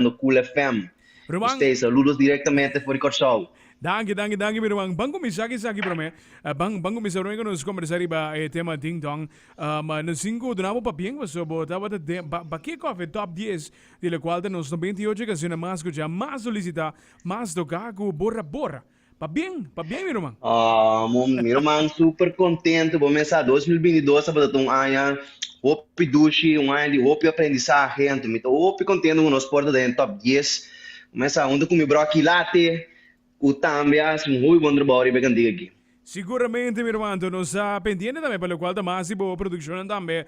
escuchando Cool FM. Ruan. Ustee, saludos directamente for di Corsow. Danki, danki, danki mi ruan. Ban cuminsa aki esaki prome. Ban, ban cuminsa prome cu nos conversa riba e tema Ding Dong. Um, nos tin cu duna bo papien paso bo tabata de, ba, ba ke cof e top dies di locual ta nos noventa y ocho cancionnan mas scucha, mas solicita, mas toca cu borra, borra. Pa bien, pa bien mi ruman. Aww mi ruman super contento bo mesa dos mil binti dos tabata un aña hopi dushi un aña di hopi aprendizahe anto mi ta hopi contento cu nos por ta den top dies bo mesa hunto cu mi broki late cu tambe a haci un hopi bon trabao riba e cantiga aki. Siguramente mi ruman anto nos ta pendiente tambe pa locual ta mas di bo produccionnan tambe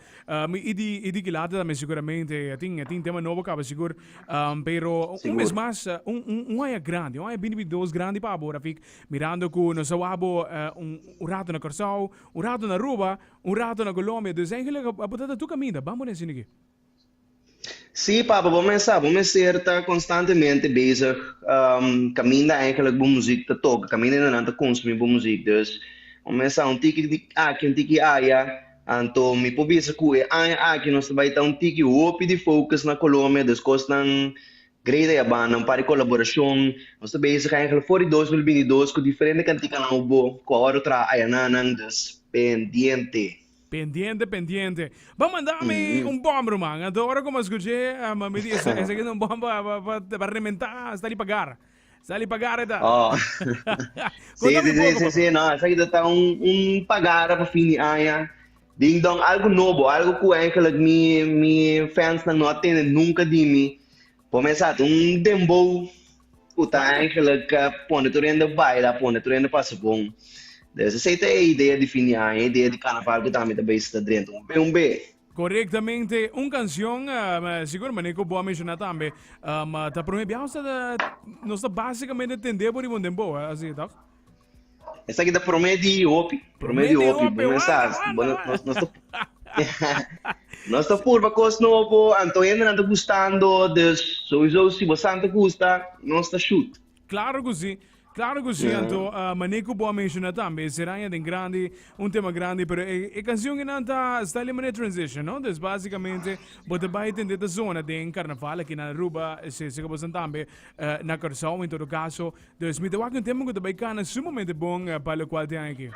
y di y di ki late tambe siguramente tin tin tema nobo caba sigur Um, pero un mes mas, uh, un, un, un aña grande, un aña bini dos grande pa abora, fik, mirando ku nos awabo uh, eh, un, un rato na Corsau, un rato na Ruba, un rato na Colombia, dus eigenlijk abo tata tu kaminda, bambo na sinigi. Si, papa, bo men sa, bo men ser ta constantemente bezig, um, kaminda eigenlijk bo muziek ta toka, kaminda nan ta consumi bo muziek, dus, bo men sa, un tiki aki, un tiki aya, Anto mi por bisa cu e aña aki nos ta bay ta un tiki hopi di focus na Colombia, des cosnan great a yabanda, un par di colaboracion, nos ta bezig aña gele for di dos mil binti dos cu diferente canticanan hopi bo cu awor a traha ayananan, des pendiente. Pendiente pendiente. Bo manda mi un bombro man, anto ora cu mi a scuche mami di esaki ta un bombro pa rementa hasta di pagar. Sali pa gara ta. Oh. si, si, si, si, si, no, esaki ta, ta un, un pa gara pa fin di aña. Ding dong, algo nobo, algo cu eigenlijk mi, mi fansnan no a tene nunca di mi. Por mesat un dembow cu ta eigenlijk uh, pone tur hende baila, pone tur hende pasa bon. Dus esei ta e idea di fin di aña, e idea di canaval cu tambe ta bay sta drento. Un be, un be. Korektamente, un kanshon, sigur manera ku bo a menshoná tambe, ta promé biaha nos ta nos ta básikamente tendé bo di bon denbow, asi tòg? Esaki ta promé di hopi, promé di hopi, bon mensas, bo no nos ta nos ta purba kos nobo, anto hende nan ta gustando, dus souiso si bo sa nan ta gusta, nos ta shut. Claro cu si, claro cu si, anto uh, mané cu bo a menciona tambe, e seraña den grandi, un tema grandi, pero e, e canción que nan ta, sta ali mané transition, no? Dus basicamente, bo ta bai tende ta zona den carnaval, aquí na Aruba, se, se que bo san tambe, uh, na Curaçao, en todo caso. Dus mi ta wak un tema cu ta bai cana sumamente bon, uh, pa lo cual te aki.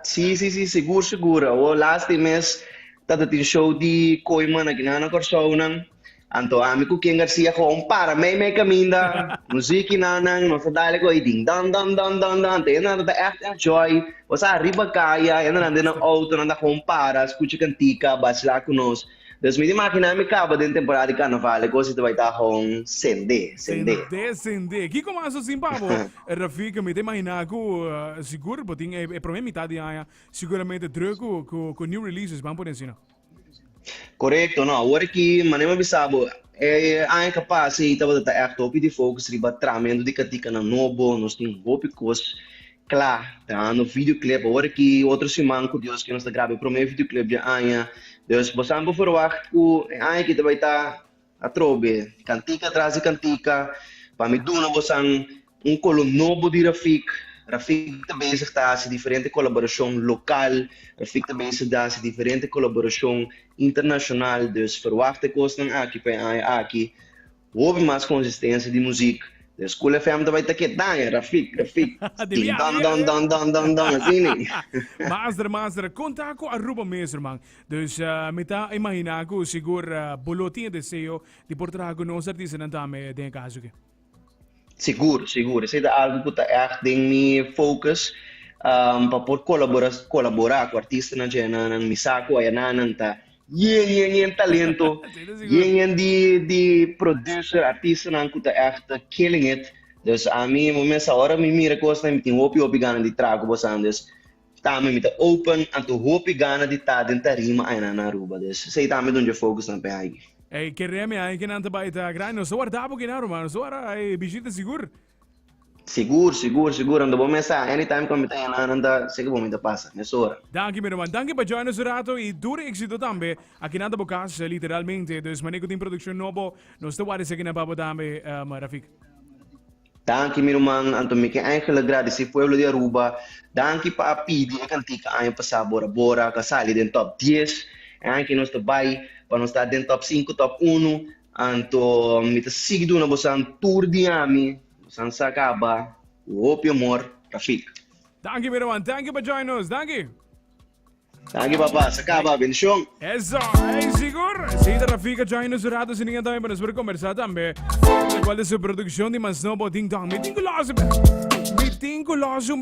Sí, sí, sí, sigur, sigur. Awo las tin mes tatatin show di Koima na Guinea na Kòrsou nan. Anto ami ku Ken Garcia gewoon para mei mei kaminda. Muziki na nan, nos a dale koi ding dong dong dong dong dong. Anto yananan ta echt enjoy. Nos a riba kaya, yananan den nan outo, nan ta gewoon para, skucha kantika, bachela ku nos. Pues mi ta imaginá mi kaba den temporada di karnaval e kos ei ta bai ta hon sendé, sendé. Sendé, sendé. Kiko mas ta sin pa bo, Rafika? Mi ta imaginá ku sigur bo tin e promé mitat di aña siguramente drùk ku ku new releases, ban pone asina. Korekto. Nau, awor aki, mané mi a bisa bo, e aña ku a pasa ei tabata ta ègt hopi di fokus riba tramento di katikanan nobo, nos tin hopi kos. Cla. Ta hando videoclip awor aki otro siman cu Dios cu nos ta graba e prome videoclip dje aña. Dus bo tambe verwacht cu e aña aki ta bay ta atrobe cantica tras di cantica. Pa mi duna bosan un colo nobo di Rafik. Rafik ta bezig ta haci diferente colaboracion local. Rafik ta bezig ta haci diferente colaboracion internacional. Dus verwacht e cosnan aki pa e aña aki. Hopi mas konsistensia di muzik. Den School FM ta bai ta ke daña, Rafik, Rafik, tin don don don don don don, asini. Master, master, kon ta ku Aruba mesun, man? Dus mi ta imaginá ku sigur bo lo tin e deseo di por traha ku nos artistanan tambe den e kaso aki. Sigur, sigur. Esei ta algu ku ta ègt den mi fokus pa por kolabora kolaborá ku artistanan dje nan, nan mi sa ku ayanan nan ta yen yen yen talento, yen yen di di producer, artistanan ku ta ègt killing it. Dus ami, bo mes awor mi mira kosnan mi tin hopi hopi gana di traha ku bosan. Dus Tambe mi ta open anto hopi gana di ta den tarima aña nan na Aruba des esey tambe don dje focus nan p'e aygi. Ey ke remi aña ke nan ta bai ta grandi nos ta warda bo kina ruma nos ta warda ey bishita sigur. Sigur sigur sigur ando bo mesa anytime ku mi ta aña nan nan ta segi bo mi ta pasa mesora. Danki mi ruman danki pa join nos un rato y tur exito tambe aki nan ta bo casa literalmente dus mane ku tin produccion nobo nos ta warda esaki nan pa bo tambe Rafik. Danki mi ruman Anto Mike Angel a gradisí pueblo di Aruba danki pa a pidi e kantika aña pasá bor abora a ka sali den top dies e aña ke nos ta bai pa nos ta den top sinku top unu anto mi ta sigui duna bosan tur di ami bosan sa kaba ku hopi amor Rafik. Danki mi ruman danki pa join nos danki. Danki papa, sa kaba, bendishon. Eso, ey sigur, si ta Rafika Joy nos rato si niña tambe pa nos por conversa tambe. Cual de su produccion di Mansnobo Ding Dong. Mi tin ku los un be. Mi tin ku los un be.